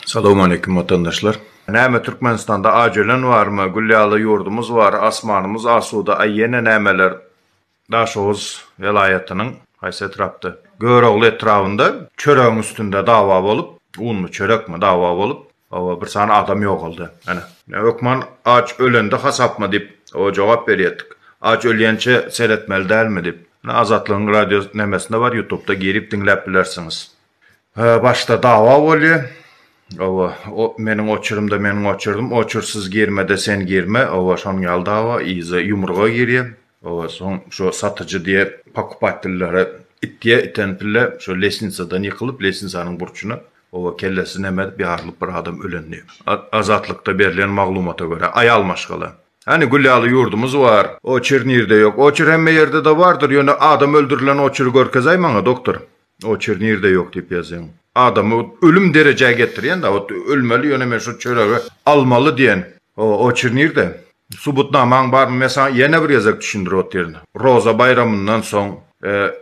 Salowm aleýkum watandaşlar. Näme Türkmenistanda aç ölen barmy? Gül ýaly ýurdumyz bar, asmanymyz asuda, aý ýene nämeler? Daşoguz welaýatynyň haýsy etrapda? Görogly etrabynda çöregiň üstünde dawa bolup, unmy, çörekmi dawa bolup, Hawa bir sany adam ýogaldy. Ana. Näme hökman aç ölende hasapmy diýip o jogap berýedik. Aç ölýänçä seretmeli dälmi diýip. Ine Azatlygyň radio nemesinde bar ýutubda girip diňläp bilersiňiz. Hä başda dawa bolýa. Hawa o meniň oçurymda meniň oçurdym oçursyz girmede sen girme hawa şonuň ýaly dawa yza ýumruga girýa. Oba soň şo satyjy diýe pokupatellere itýe iten pille şo lesnitsadan ýykylyp lesnitsanyň burçuna oba kellesi nemedip ýarylyp bir adam ölen diýe. Azatlykda berlen maglumata görä aýal maşgala. Hany gül ýaly ýurdumyz bar. Oçir nirde ýok. Oçir hemme ýerde-de bardyr ýöne adam öldürilen oçiri görkezäý maňa doktor. Oçer nirde ýok diýip ýazýaň. Adamy ölüm derejä getirýän da ot ölmeli ýöne men şo çöregi almaly diýen. O oçer nirde? Subutnamaň barmy men saňa ýene bir gezek düşündir otyr. Roza baýramyndan soň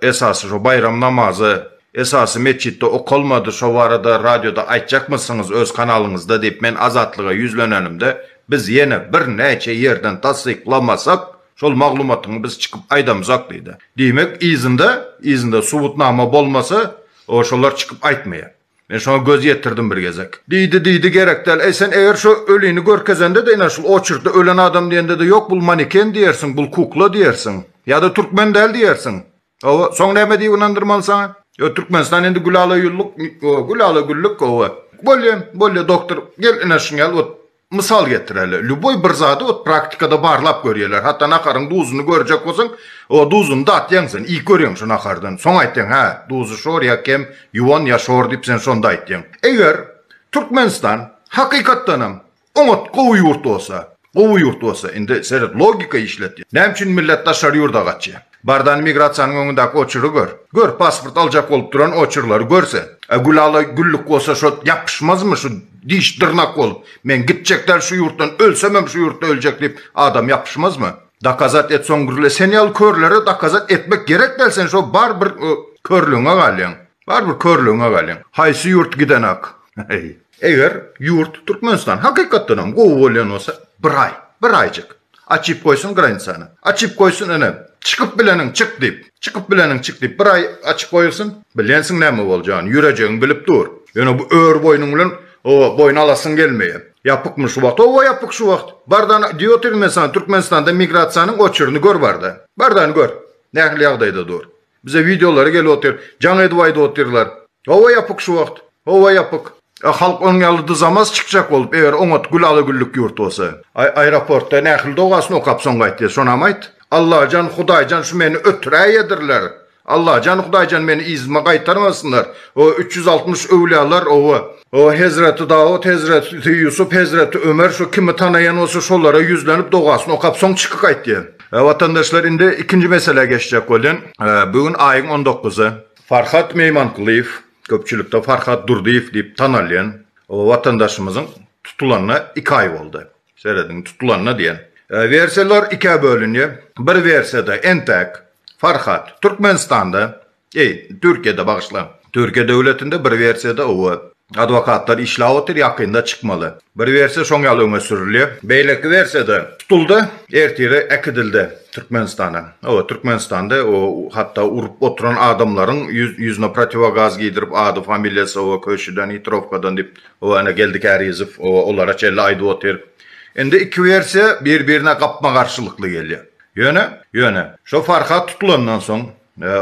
esasy şo baýram namazy esasy metjitde okalmady şo barada radioda aýtjakmysyňyz öz kanalyňyzda diýip men azatlyga ýüzlenenimde biz ýene bir näçe ýerden tassyklamasak Şol maglumatyňy biz çykyp aýdamzok diýdi. Diýmek, yzynda, yzynda subutnama bolmasa, o şolar çykyp aýtmaýar. Men şoňa göz ýetirdim bir gezek. Diýdi, diýdi, gerek däl. Eý, sen eger şo ölini görkezende-de, ine, şul oçerkde ölen adam diýende-de, ýok, bul maneken diýersiň, bul kukla diýersiň. Ýa-da türkmen däl diýersiň. Hawa, soň näme diýip ynandyrmaly saňa? Ýok, Türkmenistan indi gülala-ýulluk, gülala-güllük, hawa. Bolýa, bolýa, doktor, gel, ine, şiňňal, ot, Mysal getireli, lýuboý bir zady ot praktikada barlap görýärler, hatda naharyň duzuny görjek bolsaň, o duzuny datýaň sen, iýip görýäň şu nahardan, soň aýtýaň, hä, duzy şor ýa kem, ýuwan ýa şor diýip sen şonda aýtýaň. Eger Türkmenistan hakykatdanam oňat gowy ýurt bolsa, gowy ýurt bolsa, indi seret logika işlet, näme üçin millet daşary ýurda gaçýar? Bardan migrasiýanyň öňündäki oçury gör. Gör, pasport aljak bolup duran oçurlary gör sen. A Gülala güllük bolsa şo ýapyşmazmy şu diş dyrnak bolup, men gitjek däl şu ýurtdan, ölsemem şu ýurtda öljek diýip adam ýapyşmazmy? Dakazat et soň gürle sen ýaly körlere dakazat etmek gerek däl sen şo bar bir körlügiňe galýaň. Bar bir körlügiňe galýaň. Haýsy ýurt gidenak. Heý. Eger ýurt Türkmenistan hakykatdanam gowy bolýan bolsa bir aý, bir aýjyk açyp goýsun granicany. Açyp goýsun ine, çykyp bileniň çyk diýip, çykyp bileniň çyk diýip bir aý açyp goýulsyn. Bilýänsiň näme boljany, ýürejigiň bilip dur. Ýöne bu ör boýnuň bilen oba boýun alasyň gelmeýär. Ýapykmy şu wagt? Hawa ýapyk şu wagt. Bardan diýo Tirmestan, Türkmenistanda migrasiýanyň oçuryny gör barda. Bardany gör. Nähili ýagdaýda dur. Bize videolary gelip otyr. Jaň edip aýdyp otyrlar. Howa ýapyk şu wagt. Howa ýapyk. A halk onuň ýaly dyzamaz çykjak bolup eger oňat gül ala güllük ýurt bolsa. Aý aeroportda nähili dogasyny okap soň gaýtdy şonam aýt. Allajan hudaýjan şu meni ötüräýedirler. Allajan hudaýjan meni yzyma gaýtarmasynlar. O üç ýüz altmyş öwlýalar owa. O hezreti Dawut hezreti Ýusup hezreti Ömer şu kimi tanaýan bolsa şolara ýüzlenip dogasyny okap soň çykyp gaýtdy. Watandaşlar indi ikinji meselä geçjek bolýan. Bu gün aýyň on dokuzysy. Farhat Meýmankulyýew, köpçülikde Farhat Durdyýew diýip tanalýan watandaşymyzyň tutulanyna iki aý boldy. Serediň, tutulanyna diýen. Wersiýalar ikä bölünýär. Bir wersiýada entäk Farhat Türkmenistanda Eý, Türkiýede bagyşla. Türkiýe döwletinde bir wersiýada owa, adwokatlar işläp otyr, ýakynda çykmaly. Bir wersiýa şoň ýaly öňe sürülýär. Beýleki wersiýada tutuldy, ertire äkidildi Türkmenistana. Owa, Türkmenistanda o hatda urup oturan adamlaryň ýüz, ýüzüne protiwogaz geýdirip, ady, familiýasy, owa, köşüden, hitrowkadan diýip, owa, ana Geldi Kärizow, owa, olara çenli aýdyp otyr. Indi iki wersiýa bir-birine gapma-garşylykly gelýär. Ýöne, ýöne, şo Farhat tutulandan soň,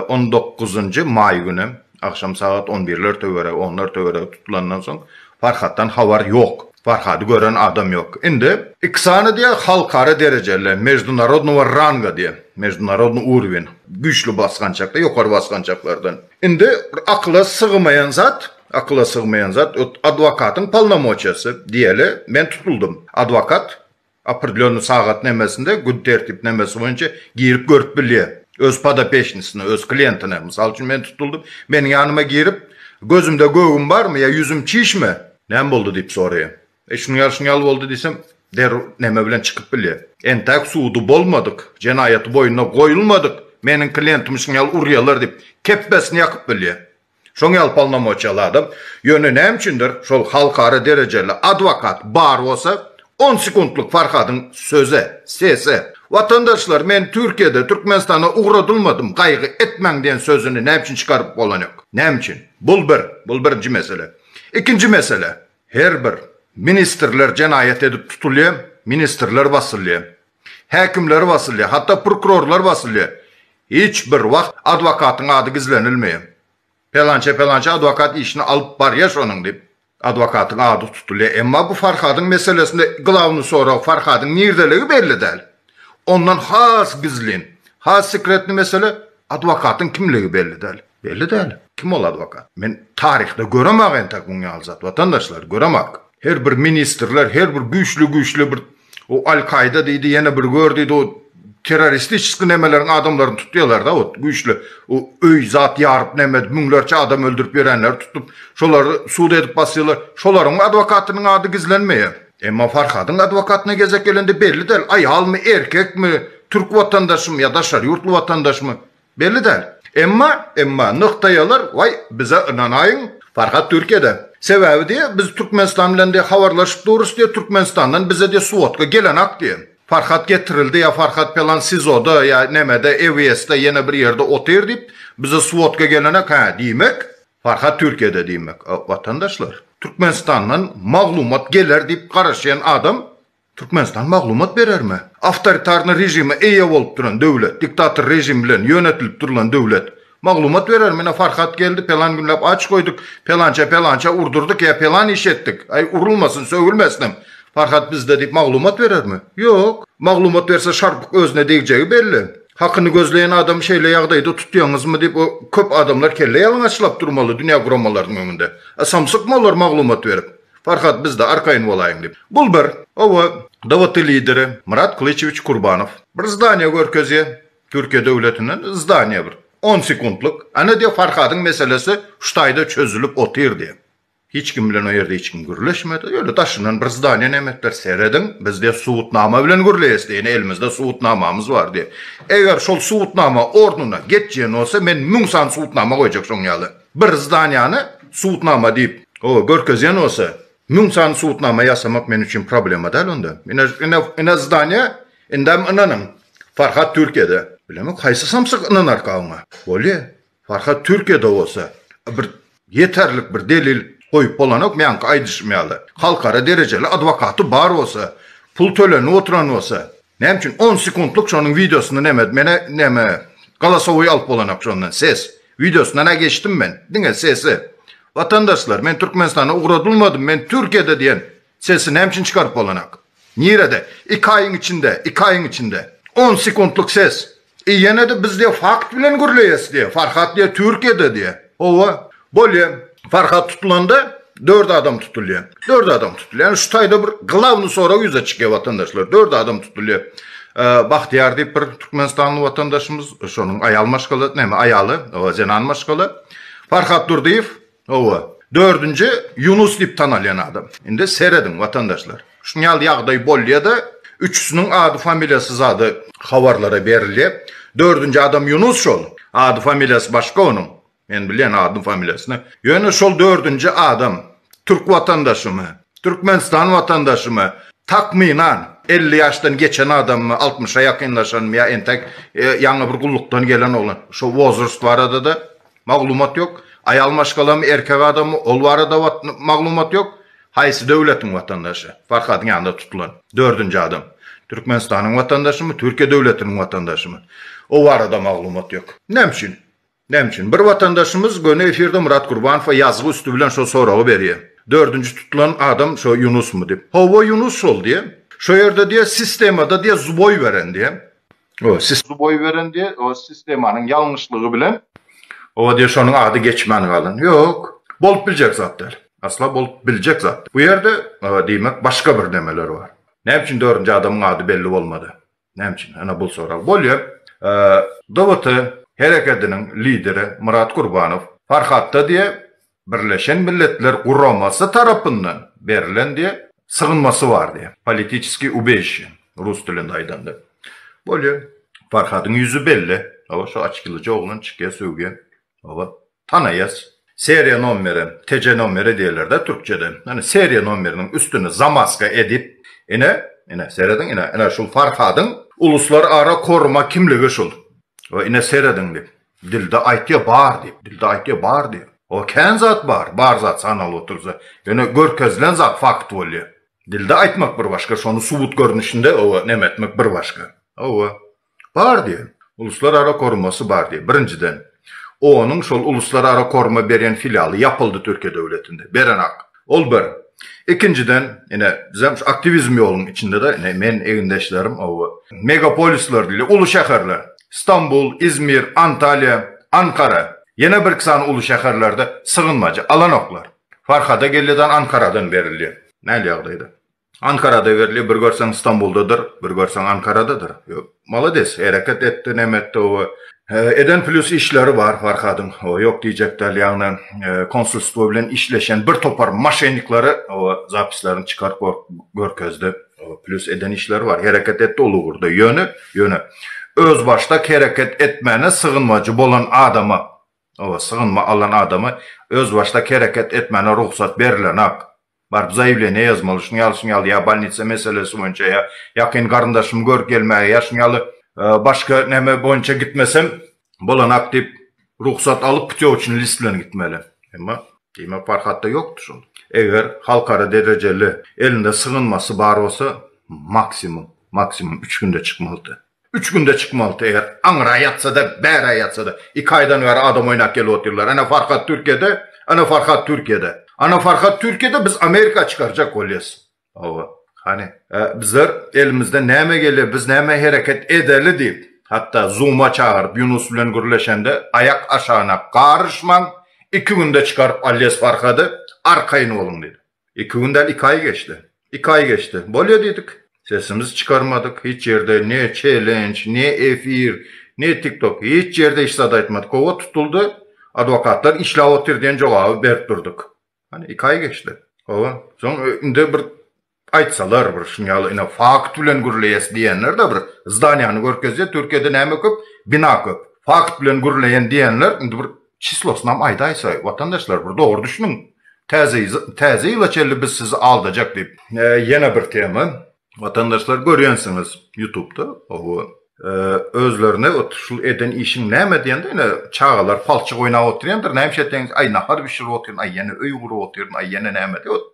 On dokuzynjy maý günem, agşam sagat on birler töweregi, onlar töweregi tutulandan soň Farhatdan habar ýok. Farhady gören adam ýok. Indi iki sany diýe halkara derejeli, meždunarodnowa ranga diýe, meždunarodny urwin, güýçli basgançakda, ýokary basgançaklardan. Indi bir akyla sygmaýan zat, akyla sygmaýan zat, ot adwokatyň polnomoçiýasy diýeli, men tutuldym. Adwokat Opredlýonny sagat nemesinde, gün tertipnemesi boýunça girip görüp bilýär. Öz podopeçnisine, öz klientine, mysal üçin men tutuldym, meniň ýanyma girip, gözümde göwün barmy ýa ýüzüm çişmi, näme boldy diýip soraýar, e şunuň ýaly şunuň ýaly boldy diýsem, derrew neme bilen çykyp bilýär. Entäk sudy bolmadyk, jenaýaty boýnuna goýulmadyk meniň klientimi şunuň ýaly urýalar diýip, kepbesini ýakyp bilýär. Şoň ýaly polnomoçýa al adam, ýöne näme üçindir şol halkara derejeli adwokat bar bolsa, on sekuntlyk Farhadyň söze, sese, Watandaşlar men Türkiýede, Türkmenistana ugradylmadym, gaýgy etmäň diýen sözüni näme üçin çykaryp bolanýok? Näme üçin? Bul bir, bul birinji mesele. Ikinji mesele, her bir ministrler jenaýat edip tutulýa, ministrler basylýa. Häkimleri basylýar, hatda prokurorlar basylýar. Hiç bir wagt adwokatyň ady gizlenilmeýär. Pelançe-pelançe adwokat işini alyp barýar şonuň diýip, adwokatyň ady tutulýar. Emma bu Farhadyň meselesinde glawnyý sorag Farhadyň nirdedigi belli däl. Ondan has gizlin, has sekretnyý mesele, adwokatyň kimligi belli däl. Belli däl. Kim ol adwokat? Men taryhda göremak entek muň ýaly zat, watandaşlar, göremak. Her bir ministrler, her bir güýçli-güýçli bir O Al-Kaýda diýdi, ýene bir gör diýdi, o terroristiçeski nemeleriň adamlaryny tutýarlar-da, ot, güýçli, o öý zat ýaryp näme edip, müňlerçe adam öldürip ýörenleri tutup, şolary sud edip basýarlar, şolaryň adwokatynyň ady gizlenmeýär. Emma Farhadyň adwokatyna gezek gelende belli däl, aýalmy, erkekmi, türk watandaşymy ýa daşary ýurtly watandaşmy, Belli däl. Emma, emma, nygtaýarlar, waý, bize ynanaýyň, Farhat Türkiýede. Sebäbi diýe, biz Türkmenistan bilen diýe habarlaşyp durus diýe, Türkmenistandan bize diýe svodka gelenak diýe. Farhat getirildi ýa Farhat pelan SIZO-da ýa nämede, EWS-de ýene bir ýerde otyr diýip, bize svodka gelenak, hä, diýmek, Farhat Türkiýede diýmek. Watandaşlar, Türkmenistandan maglumat geler diýip garaşýan adam Türkmenistan maglumat berermi? Awtoritarny režime eýe bolup duran döwlet, diktator režim bilen ýönetilip durulan döwlet maglumat berermi? Ine Farhat geldi, pelan günläp aç goýduk, pelança pelança urdurdyk ýa pelan iş etdik, aý urulmasyn, sögülmesinem Farhat bizde diýip maglumat berermi? Ýok. Maglumat berse şarpyk özüne degjegi belli. Hakyny gözleýän adamy şeýle ýagdaýda tutýaňyzmy diýip o köp adamlar kelle ýalňaçlap durmaly dünýä guramalarynyň öňünde. A samsykmy olar maglumat berip? Farhat bizde arkaýyn bolaýyň diýip. Bul bir. Owa, DWT lideri Myrat Kylyçewiç Kurbanow bir zdaniýa görkezýä, Türkiýe döwletinden zdaniýa bir. On sekuntlyk. Ana diýe Farhadyň meselesi şu taýda çözülip otyr diýe. Hiç kim bilen o ýerde hiç kim gürleşmedi. Öýle daşyndan bir zdaniýa näme etdiler. Serediň, biz diýe subutnama bilen gürleýäs diýe. Ine elimizde subutnamamyz bar diýe. Eger şol subutnama ornuna getjien bolsa men müň sany subutnama goýjak şoň ýaly. Bir zdanýany subutnama diýip, oba görkezýän bolsa, müň sany subutnama ýasamak men üçin problema däl onda. Ine, ine, ine zdaniýa, indem ynanyň, Farhat Türkiýede. Bilemok, haýsy samsyk ynanarka oňa. Bolýa, Farhat Türkiýede bolsa, bir ýeterlik bir delil goýup bolanok, meňki aýdyşym ýaly. Halkara derejeli adwokaty bar bolsa, pul tölenip oturan bolsa, Näme üçin on sekuntlyk şonuň wideosyny neme mene neme galasowy alyp bolanak şondan ses wideosyna nä geçdim men diňe sesi watandaşlar men Türkmenistana ugradylmadym men Türkiýede diýen sesi näme üçin çykaryp bolanak nirede iki aýyň içinde iki aýyň içinde on sekuntlyk ses E ýene-de biz diýe fakt bilen gürleýäs diýe. Farhat diýe Türkiýede diýe. Hawa. Bolýa. Farhat tutulanda dört adam tutulýa. Dört adam tutulýa. Ýani şu taýda bir glawny sorag ýüze çykýa watandaşlar. Dört adam tutulýa. Bahtyýar diýip bir türkmenistanly watandaşymyz, şonuň aýal maşgala, näme aýaly, zenan maşgala. Farhat Durdyýew, Hawa, dördünji Ýunus diýip tanalýan adam. Indi serediň, watandaşlar. Şunuň ýaly ýagdaý bolýa-da, üçüsiniň ady-familiýasy zady habarlara berilýär. Dördünji adam Ýunus şol. Ady-familiýasy başga onuň. Men bilýän adyny-familiýasyny. Ýöne şol dördünji adam türk watandaşymy, Türkmenistan watandaşymy, takmynan, elli ýaşdan geçen adammy, altmyşa ýakynlaşanmy ýa entek ýaňy bir gullukdan gelen oglan, şo wozrost barada-da Maglumat ýok. Aýal maşgalamy, erkek adamy, ol barada maglumat ýok. Haýsy döwletiň watandaşy? Farhadyň ýanynda tutulan dördünji adam. Türkmenistanyň watandaşymy, Türkiýe döwletiniň watandaşymy? O barada maglumat ýok. Näme üçin? Näme üçin? Bir watandaşymyz göni efirde Murat Gurbanowa ýazgy üsti bilen şo soragy berýär. Dördünji tutulan adam şo Ýunusmy diýip. Hawa Ýunus şol diýýär. Şo ýerde diýýär sistemada diýýär zboý beren diýýär. Siz boý beren diýe sistemanyň ýalňyşlygy bilen. Owa diýe şonuň ady geçmän galan. Ýok. Bolup biljek zat däl. Asla bolup biljek zat däl. Bu ýerde diýmek başga bir nemeler bar. Näme üçin dördünji adamyň ady belli bolmady? Näme üçin? Ana bul sorag. Bolýar. DBT herekediniň lideri Myrat Gurbanow Farhatda diýe Birleşen Milletler Guramasy tarapyndan berlen diýen sygynmasy bar diýen. Politiçeskiý ubeýşe, rus dilinde aýdanda. Bolýa. Farhadyň ýüzi belli. Hawa, şu açkylyja oglan çykýa sögýä. Hawa, tanaýas. Seriýa nomeri, TC nomeri diýerler-dä türkçede. Ine, seriýa nomeriniň üstüni zamaska edip, ine, ine, serediň, ine, ine, şul Farhadyň uluslarara koruma kimligi şul. Hawa, ine, serediň diýip. Dilde aýtýa bar diýip, dilde aýtýa bar diýip. O kän zat bar, bar zat sanalyp otursa, ýöne görkezilen zat fakt bolýa. Dilde aýtmak bir başga, şony subut görnüşinde hawa neme etmek bir başga. Hawa. Bar diýe. Uluslar ara korumasy bar diýe. Birinjiden, onuň şol uluslar ara koruma berýän filialy ýapyldy Türkiýe döwletinde. Berenak. Ol bir. Ikinjiden, ine, bizem şu aktiwizm ýolunyň içinde-de, ine, men, egindeşlerim, oba, megapolisler diýilýär, uly şäherler, Stambul, Izmir, Antaliýa, Ankara, ýene birki sany uly şäherlerde sygynmajy alanoklar. Farhada gelýä-de Ankaradan berilýär. Näl ýagdaýda? Ankarada berli bir görseň Stambuldadyr bir görseň Ankaradadyr malades hereket etdi neme etdi oba eden plýus işleri bar Farhadyň oba ýok diýjek däl ýagny konsulstwo bilen işleşen bir topar maşenniklary oba zapislaryny çykaryp görkezdi plýus eden işleri bar hereket etdi ol ugurda ýöne ýöne özbaşdak hereket etmäne sygynmajy bolan adama oba sygynma alan adama özbaşdak hereket etmäne rugsat berilenak Baryp zaýewleniýe ýazmaly, şuň ýaly, şuň ýaly, ýa bolnitsa meselesi boýunça, ýa ýakyn garyndaşymy görüp gelmäge, ýa şuň ýaly başga näme boýunça gitmesem bolanak diýip, rugsat alyp, putýowçnyý list bilen gitmeli. Emma, diýmek, Farhatda ýokdy şol. Eger halkara derejeli elinde sygynmasy bar bolsa, maksimum, maksimum üç günde çykmalydy. Üç günde çykmalydy eger aňra ýatsada bära ýatsada iki aýdan bäri adam oýnap gelip otyrlar ene farhat türkiýede ene farhat türkiýede ana farhat türkiýede biz amerika çykarjak bolýas hawa hany bizler elimizden näme gelýär biz näme hereket edeli diýip hatda zuma çagyryp ýunus bilen gürleşende aýak aşagyna garyşmaň iki günde çykaryp alýas farhady arkaýyn boluň diýdi. Iki gün däl, iki aý geçdi. Iki aý geçdi. Bolýa diýdik. Sesimizi çykarmadyk. Hiç ýerde ne çelenç, ne efir, ne tiktok, hiç ýerde hiç zat aýtmadyk. Howa tutuldy. Adwokatlar işläp otyr diýen jogaby berip durduk. Hany, iki aý geçdi. Howa. Soň indi bir aýtsalar, bir şuny ýaly ine fakt bilen gürleýäs diýenler-de bir zdaniýany görkezýär, Türkiýede näme köp, bina köp. Fakt bilen gürleýän diýenler indi bir Çyslosynam aýdaýsa, watandaşlar, bir dogry düşüniň. Täze täze ýyla çenli biz sizi aldajak diýip. Ýene bir tema. Watandaşlar görýänsiňiz ýutubda owo. Özlerine ot şul eden işiň näme diýende ýene çagalar palçyk oýnap otyrýandyr näme şeýle diýende aý nahar bişirip otyryn aý ýene öý gurup otyryn aý ýene näme diýip ot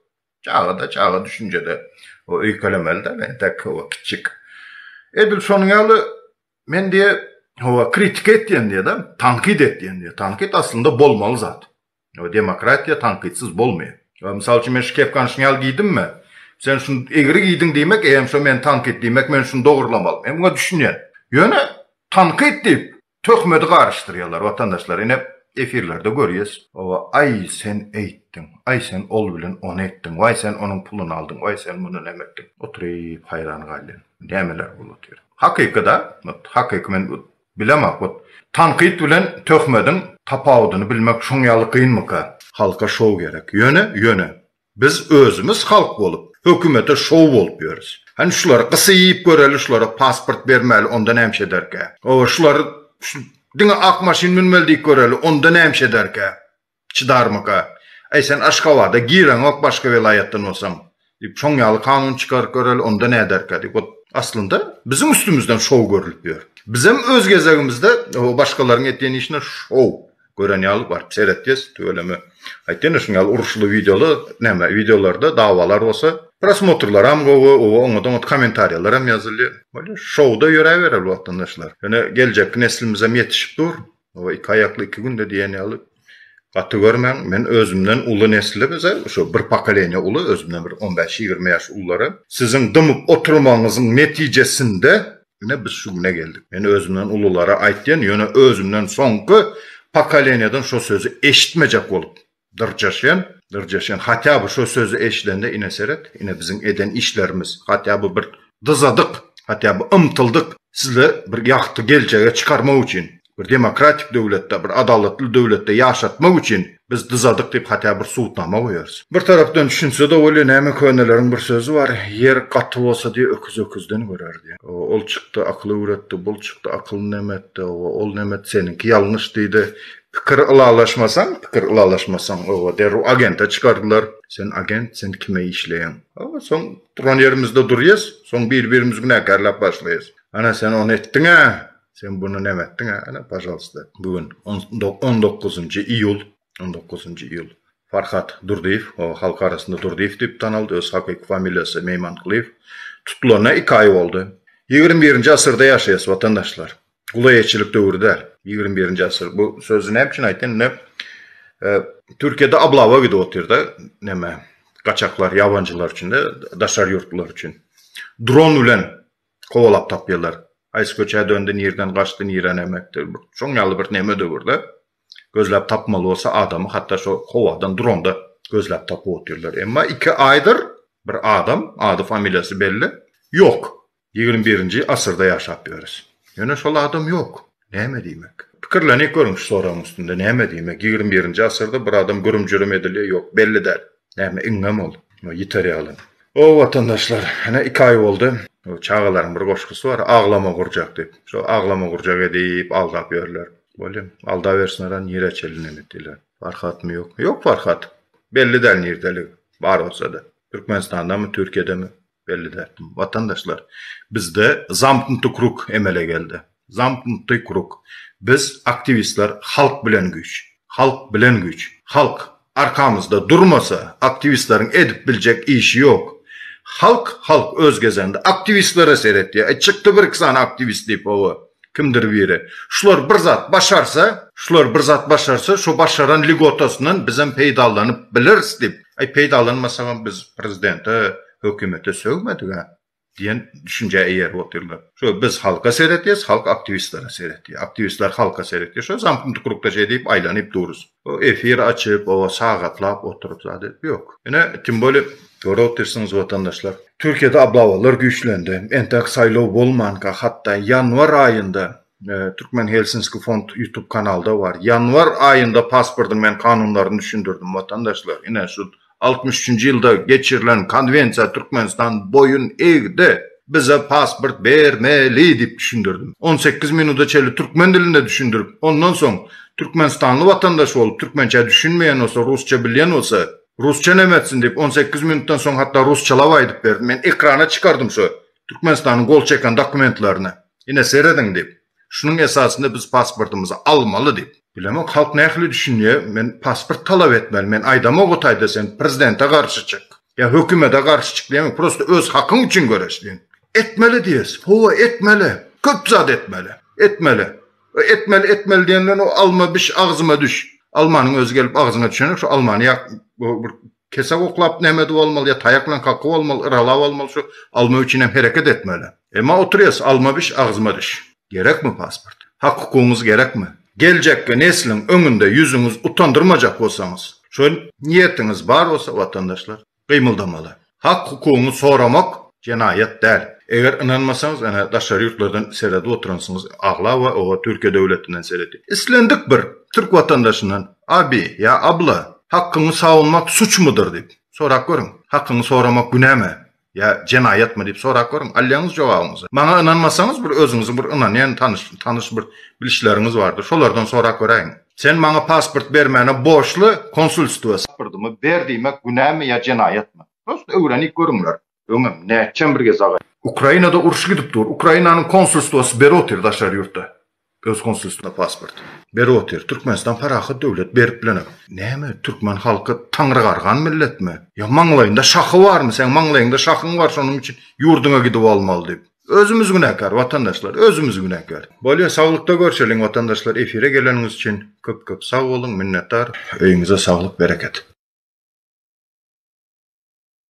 çagada çaga düşünjede o öýkelemeli däl entek owo kiçjik. Edil şonuň ýaly Men diýe, hawa, kritika etýän diýe-de, tankyt etýän diýe. Tankyt aslynda bolmaly zat. Hawa, demokratiýa tankytsyz bolmaýar. Hawa, mysal üçin, men şu kepkany şuny ýaly geýdimmi? Sen şuny egri geýdiň diýmek, eýýäm şo meni tankyt. Diýmek, men şuny dogrulamaly. Men muňa düşünýän. Ýöne tankyt diýip, töhmedi garyşdyrýarlar, watandaşlar. Ine, efirlerde görýäs. Hawa, aý, sen eýtdiň. Aý, sen ol bilen ony etdiň. Waý, sen onuň puluny aldyň. Waý, sen muny näme etdiň? Oturyp haýran galýan. Nämeler bolup otyr? Hakyky-da, ot, hakyky men ot, bilemok hut. Tankyt bilen töhmediň tapawudyny bilmek şoň ýaly gynmyka? Halka şou gerek. Ýöne, ýöne, biz özümiz halk bolup, hökümete şou bolup ýörüs. Hany şulary gysyp göreli, şulara pasport bermäli, onda nämiş ederkä? Hawa, şulary şu diňe ak maşyn münmeli diýip göreli, onda nämiş ederkä? Çydarmyka? Äý, sen Aşgabada gireňok başga welaýatdan bolsaň. Diýip, şoň ýaly kanun çykaryp göreli, onda näderkä diýip, ot. Aslynda, biziň üstümizden şou görlüp ýör. Bizem öz gezegimizde o başgalaryň etýän işine şou gören ýaly baryp seretjis, tüweleme. Aýtdym-da, şuň ýaly uruşly wideolar, näme, wideolarda dawalar bolsa, prosmotrlaram gowy, oba, oňat-oňat kommentariýalar hem ýazylýar. Bolýar, şowda ýöräbereli watandaşlar. Ýöne geljekki neslimizem ýetişip dur. Hawa iki aýakly iki günde diýen ýaly gaty görmäň. Men özümden uly nesle bize şo bir pokoleniýa uly özümden bir on bäş ýigrimi ýaş ullara siziň dymyp oturmagyňyzyň netijesinde ine biz şu güne geldik. Men özümden ululara aýtýan ýöne özümden soňky pokoleniýadan şo sözi eşitmejek bolup Dyrjaşýan, dyrjaşýan. Hatýa bu şo sözi eşidende ine seret, ine biziň eden işlerimiz. Hatýa bu bir dyzadyk, hatýa bu ymtyldyk sizle bir ýagty geljege çykarmak üçin. Bir demokratik döwletde, bir adalatly döwletde ýaşatmak üçin biz dyzadyk diýip hatýa bir subutnama goýarys. Bir tarapdan düşünse-de bolýa, näme köneleriň bir sözi bar, Ýer gaty bolsa diýe öküz öküzden görer diýe. Ol çykdy akyl öwretdi, bul çykdy akylyny näme etdi, ol näme etdi seniňki ýalňyş diýdi. Pikir ylalaşmasaň, pikir ylalaşmasaň, oba, derrew agente çykardylar. Sen agent, sen kime işleýäň? Oba, soň duran ýerimizde durýas, soň bir-birimizi günäkärläp başlaýas. Ana, sen ony etdiň-ä, sen buny näme etdiň-ä, ana, pažalsta. Bu gün on dokuzynjy iýul, on dokuzynjy iýul. Farhat Durdyýew, oba, halk arasynda Durdyýew diýip tanaldy, öz hakyky familiýasy Meýmankulyýew. Tutulanyna iki aý boldy. Ýigrimi birinji asyrda ýaşaýas, watandaşlar. uly eýeçilik döwri däl. Ýigrimi birinji asyr. Bu sözi näme üçin aýtdym? Indi Türkiýede ablawa gidip otyrda, näme, gaçaklar, ýabanjylar üçin-de, daşary ýurtlular üçin. Dron bilen kowalap tapýarlar. Haýsy köçä döndi, nireden gaçdy, nirä näme etdi. Şoň ýaly bir näme döwürde gözläp tapmaly bolsa adamy hatda şo howadan dronda gözläp tapyp otyrlar. Emma iki aýdyr bir adam, ady-familiýasy belli, ýok. Ýigrimi birinji asyrda ýaşap ýörüs. Ýöne şol adam ýok. Näme diýmek? Pikirlenik görüň şu soragyň üstünde. Näme diýmek? Ýigrimi birinji asyrda bir adam gürüm-jürüm edilýär, ýok, belli däl. Näme, iňňem ol? Ýa ýiter ýaly. O, watandaşlar, ene iki aý boldy. O, çagalaryň bir goşgusy bar, Aglama gurjak diýip. Şo aglama gurjak edip, aldap ýörler. Bolýa. Aldabersinler-ä, nirä çenli näme etdiler? Farhatmy, ýokmy? Ýok Farhat. Belli däl nirdeligi. Bar bolsa-da. Türkmenistandanmy, Türkiýedemi? Belli däl. Watandaşlar, bizde zamknutý krug emele geldi. Zamknutý krug. Biz, aktiwistler, halk bilen güýç. Halk bilen güýç. Halk arkamyzda durmasa, aktiwistleriň edip biljek işi ýok. Halk, halk öz gezeginde aktiwistlere seretýär. Çykdy bir-iki sany aktiwist diýip, hawa. Kimdir biri, Şular bir zat başarsa, şular bir zat başarsa, şo başaran lýugotasyndan bizem peýdalanyp bileris diýip, Aý, peýdalanmasagam biz prezidente, hökümete sögmedik-ä diýen düşünjä eýerip otyrlar. Şo biz halka seretýäs, halk aktiwistlere seretýär. Aktiwistler halka seretýär. Şo zamknuty krugda şeýdip aýlanyp durus. O efir açyp, oba sagatlap oturyp zat edip ýok. Ine, tim boli, görüp otyrsyňyz watandaşlar. Türkiýede ablawalar güýçlendi. Entek saýlaw bolmanka, hatda ýanwar aýynda, Türkmen Helsinski fond ýutub kanalda bar. Ýanwar aýynda pasportyň men kanunlaryny düşündirdim watandaşlar. Ine, şu altmyş üçünji ýylda geçirilen konwensiýa Türkmenistan boýun egdi, bize pasport bermeli diýip düşündirdim. On sekiz minuda çenli türkmen dilinde düşündirip, ondan soň türkmenistanly watandaş bolup, türkmençä düşünmeýän bolsa, rusça bilýän bolsa, rusça näme etsin diýip, on sekiz minutdan soň hatda rusçalap aýdyp berdim. Men ekrana çykardym şu Türkmenistanyň gol çeken dokumentlerini. Ine, serediň diýip. Şunuň esasynda biz pasportymyzy almaly diýip. Bilemok halk nähili düşünýär, men pasport talap etmeli, men aýdamok o taýda sen prezidente garşy çyk, ýa hökümede garşy çyk diýemok, prosta öz hakyň üçin göreş diýen. Etmeli diýeris, howa etmeli, köp zat etmeli, etmeli. O etmeli, etmeli diýen bilen o alma biş, agzyma düş. Almanyň özi gelip agzyňa düşenok, şo almany ýa bir Kesäp oklap nämedi bolmaly ýa taýak bilen kakgy bolmaly yralap bolmaly şu alma üçinem hereket etmeli. Emma oturýas alma biş agzyma diş. Gerekmi pasport? Hak hukugyňyz gerekmi? Geljekki nesliň öňünde ýüzüňiz utandyrmajak bolsaňyz, şol niýetiňiz bar bolsa watandaşlar gymyldamaly. Hak hukugyňy soramak jenaýat däl. Eger ynanmasaňyz ene daşary ýurtlardan seredip oturansyňyz aglaba oba Türkiýe döwletinden seredip islendik bir Türk watandaşyndan Abi, ýa abla, hakkyňy sawunmak suçmudyr diýip, sorap görüň. Hakkyňy soramak günämi, ýa jenaýatmy diýip sorap görüň. Alýaňyz jogabyňyzy. Maňa ynanmasaňyz bir özüňiziň bir ynanýan tanyş tanyş bir bilişleriňiz bardyr. Şolardan sorap göräýiň. Sen maňa pasport bermäne borçly konsulstwa. Pasportymy ber diýmek günämi ýa jenaýatmy? Prosta öwrenip görüňler. Öňem, nätjäm bir gez agay. Ukrainada uruş gidip dur. Ukrainanyň konsulstwasy ber otyr daşary ýurtda. Öz konsulstw. Na pasport. Ber otyr. Türkmenistan parahat döwlet berip bilenem. Näme türkmen halky taňrygargan milletmi? Ýa maňlaýynda şahy barmy? Seň maňlaýyňda şahyň bar şonuň üçin ýurdyňa gidip almaly diýip. Özümiz günäkär watandaşlar özümiz günäkär. Bolýa saglykda görşeliň watandaşlar efire geleniňiz üçin köp köp sag boluň minnetdar. Öýüňize saglyk bereket.